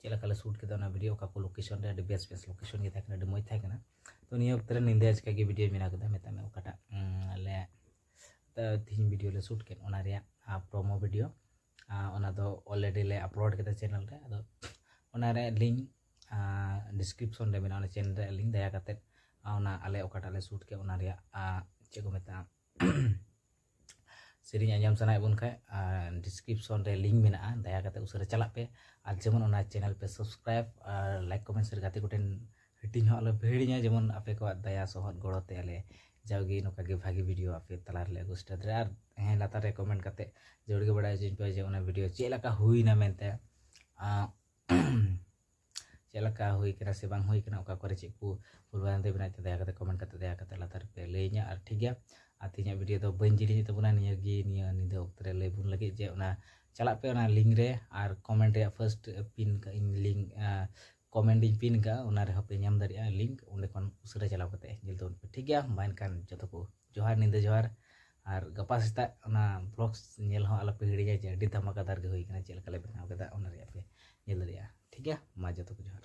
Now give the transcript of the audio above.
ᱪᱮᱫ ᱞᱮᱠᱟ ᱞᱮ ᱥᱩᱴ ᱠᱮᱫᱟ ᱚᱱᱟ ᱵᱷᱤᱰᱤᱭᱳ ᱚᱠᱟ ᱠᱚ ᱞᱳᱠᱮᱥᱚᱱ ᱨᱮ ᱟᱹᱰᱤ ᱵᱮᱥ ᱵᱮᱥ ᱞᱳᱠᱮᱥᱚᱱ ᱜᱮ ᱛᱟᱦᱮᱸ ᱠᱟᱱᱟ ᱟᱹᱰᱤ ᱢᱚᱡᱽ ᱛᱟᱦᱮᱸ ᱠᱟᱱᱟ ᱛᱚ ᱱᱤᱭᱟᱹ ᱚᱠᱛᱚ ᱨᱮ ᱧᱤᱫᱟᱹ ᱟᱪᱠᱟ ᱜᱮ ᱵᱷᱤᱰᱤᱭᱳ ᱵᱮᱱᱟᱣ ᱠᱮᱫᱟ ᱢᱮᱛᱟᱜ ᱢᱮ ᱚᱠᱟᱴᱟᱜ ᱞᱮ ᱛᱤᱦᱤᱧ ᱵᱷᱤᱰᱤᱭᱳ ᱞᱮ ᱥᱩᱴ ᱠᱮᱫ ᱚᱱᱟ ᱨᱮᱭᱟᱜ ᱯᱨᱳᱢᱳ ᱵᱷᱤᱰᱤᱭᱳ ᱚᱱᱟ ᱫᱚ ᱚᱞᱨᱮᱰᱤ ᱞᱮ ᱟᱯᱞᱳᱰ ᱠᱮᱫᱟ ᱪᱮᱱᱮᱞ ᱨᱮ ᱟᱫᱚ ᱚᱱᱟ ᱨᱮ ᱞᱤᱝᱠ ᱰᱤᱥᱠᱨᱤᱯᱥᱚᱱ ᱨᱮ ᱢᱮᱱᱟᱜᱼᱟ ᱚᱱᱟ ᱪᱮᱱᱮᱞ ᱨᱮ ᱞᱤᱝᱠ ᱫᱟᱭᱟ ᱠᱟᱛᱮᱫ ᱚᱱᱟ ᱟᱞᱮ ᱚᱠᱟᱴᱟᱜ ᱞᱮ ᱥᱩᱴ ᱠᱮᱫ ᱚᱱᱟ ᱨᱮᱭᱟᱜ ᱪᱮᱫ ᱠᱚ ᱢᱮᱛᱟᱜᱼᱟ ᱥᱮᱨᱮᱧ ᱟᱸᱡᱚᱢ ᱥᱟᱱᱟᱭᱮᱫ ᱵᱚᱱ ᱠᱷᱟᱡ ᱰᱤᱥᱠᱨᱤᱯᱥᱚᱱ ᱨᱮ ᱞᱤᱝᱠ ᱢᱮᱱᱟᱜᱼᱟ ᱫᱟᱭᱟ ᱠᱟᱛᱮ ᱩᱥᱟᱹᱨᱟ ᱪᱟᱞᱟᱜ ᱯᱮ ᱟᱨ ᱡᱮᱢᱚᱱ ᱚᱱᱟ ᱪᱮᱱᱮᱞ ᱯᱮ ᱥᱟᱵᱥᱠᱨᱟᱭᱤᱵ ᱟᱨ ᱞᱟᱭᱤᱠ ᱠᱚᱢᱮᱱᱴ ᱥᱮ ᱜᱟᱛᱮ ᱠᱚᱴᱷᱮᱱ ᱦᱟᱹᱴᱤᱧ ᱦᱚᱸ ᱟᱞᱚ ᱯᱮ ᱦᱤᱲᱤᱧᱟ ᱡᱮᱢᱚᱱ ᱟᱯᱮ ᱠᱚᱣᱟᱜ ᱫᱟᱭᱟ ᱥᱚᱦᱚᱫ ᱜᱚᱲᱚ ᱛᱮ ᱟᱞᱮ ᱡᱟᱣᱜᱮ ᱱᱚᱝᱠᱟ ᱜᱮ ᱵᱷᱟᱜᱮ ᱵᱷᱤᱰᱤᱭᱳ ᱟᱯᱮ ᱛᱟᱞᱟ ᱨᱮᱞᱮ ᱟᱹᱜᱩ ᱥᱮᱴᱮᱨ ᱫᱟᱲᱮᱭᱟᱜᱼᱟ ᱟᱨ ᱦᱮᱸ ᱞᱟᱛᱟᱨ ᱨᱮ ᱠᱚᱢᱮᱱᱴ ᱠᱟᱛᱮ ᱡᱟᱹᱨᱩᱲ ᱜᱮ ᱵᱟᱲᱟᱭ ᱦᱚᱪᱚᱧ ᱯᱮ ᱡᱮ ᱚᱱᱟ ᱵᱷᱤᱰᱤᱭᱳ ᱪᱮᱫ ᱞᱮᱠᱟ ᱦᱩᱭᱱᱟ ᱢᱮᱱᱛᱮ ᱪᱮᱫ ᱞᱮᱠᱟ ᱦᱩᱭ ᱠᱟᱱᱟ ᱥᱮ ᱵᱟᱝ ᱦᱩᱭ ᱠᱟᱱᱟ ᱚᱠᱟ ᱠᱚᱨᱮ ᱪᱮᱫ ᱠᱚ ᱵᱷᱩᱞ ᱵᱷᱨᱟᱱᱛᱤ ᱢᱮᱱᱟᱜ ᱛᱮ ᱫᱟᱭᱟ ᱠᱟᱛᱮ ᱠᱚᱢᱮᱱᱴ ᱠᱟᱛᱮ ᱫᱟᱭᱟ ᱠᱟᱛᱮ ᱞᱟᱛᱟᱨ ᱯᱮ ᱞᱟᱹᱭᱟᱹᱧᱟ ᱟᱨ ᱴᱷᱤᱠ ᱜᱮᱭᱟ ᱟᱨ ᱛᱮᱦᱮᱧᱟᱜ ᱵᱷᱤᱰᱤᱭᱳ ᱫᱚ ᱵᱟᱹᱧ ᱡᱤᱞᱤᱧ ᱛᱟᱵᱚᱱᱟ ᱱᱤᱭᱟᱹ ᱜᱮ ᱱᱤᱭᱟᱹ ᱧᱤᱫᱟᱹ ᱚᱠᱛᱚ ᱨᱮ ᱞᱟᱹᱭ ᱵᱚᱱ ᱞᱟᱹᱜᱤᱫ ᱡᱮ ᱚᱱᱟ ᱪᱟᱞᱟᱜ ᱯᱮ ᱚᱱᱟ ᱞᱤᱝᱠ ᱨᱮ ᱟᱨ ᱠᱚᱢᱮᱱᱴ ᱨᱮᱭᱟᱜ ᱯᱷᱟᱨᱥᱴ ᱯᱤᱱ ᱠᱟᱜ ᱤᱧ ᱞᱤᱝᱠ ᱠᱚᱢᱮᱱᱴ ᱤᱧ ᱯᱤᱱ ᱠᱟᱜᱼᱟ ᱚᱱᱟ ᱨᱮᱦᱚᱸ ᱯᱮ ᱧᱟᱢ ᱫᱟᱲᱮᱭᱟᱜᱼᱟ ᱞᱤᱝᱠ ᱚᱸᱰᱮ ᱠᱷᱚᱱ ᱩᱥᱟᱹᱨᱟ ᱪᱟᱞᱟᱣ ᱠᱟᱛᱮ ᱧᱮᱞ ᱛᱟᱵᱚᱱ ᱯᱮ ᱴᱷᱤᱠ ᱜᱮᱭᱟ ᱢᱟ ᱮᱱᱠᱷᱟᱱ ᱡᱚᱛᱚ ᱠᱚ ᱡᱚᱦᱟᱨ ᱧᱤᱫᱟᱹ ᱡᱚᱦᱟᱨ ᱟᱨ ᱜᱟᱯᱟ ᱥᱮᱛᱟᱜ ᱚᱱᱟ ᱵᱞᱚᱜ ᱧᱮᱞ ᱦᱚᱸ ᱟᱞᱚᱯᱮ ᱦᱤᱲᱤᱧᱟ ᱡᱮ ᱟᱹᱰᱤ ᱫᱷᱟᱢᱟᱠᱟᱫᱟᱨ ᱜᱮ ᱦᱩᱭ ᱠᱟᱱᱟ ᱪᱮᱫ ᱞᱮᱠᱟ ᱞᱮ ᱵᱮᱱᱟᱣ ᱠᱮᱫᱟ ᱚᱱᱟ ᱨᱮᱭᱟᱜ ᱯᱮ ᱧᱮᱞ ᱫᱟᱲᱮᱭᱟᱜᱼᱟ ᱴᱷᱤᱠ ᱜᱮᱭᱟ ᱢᱟ ᱡᱚᱛᱚ ᱠᱚ ᱡᱚᱦᱟᱨ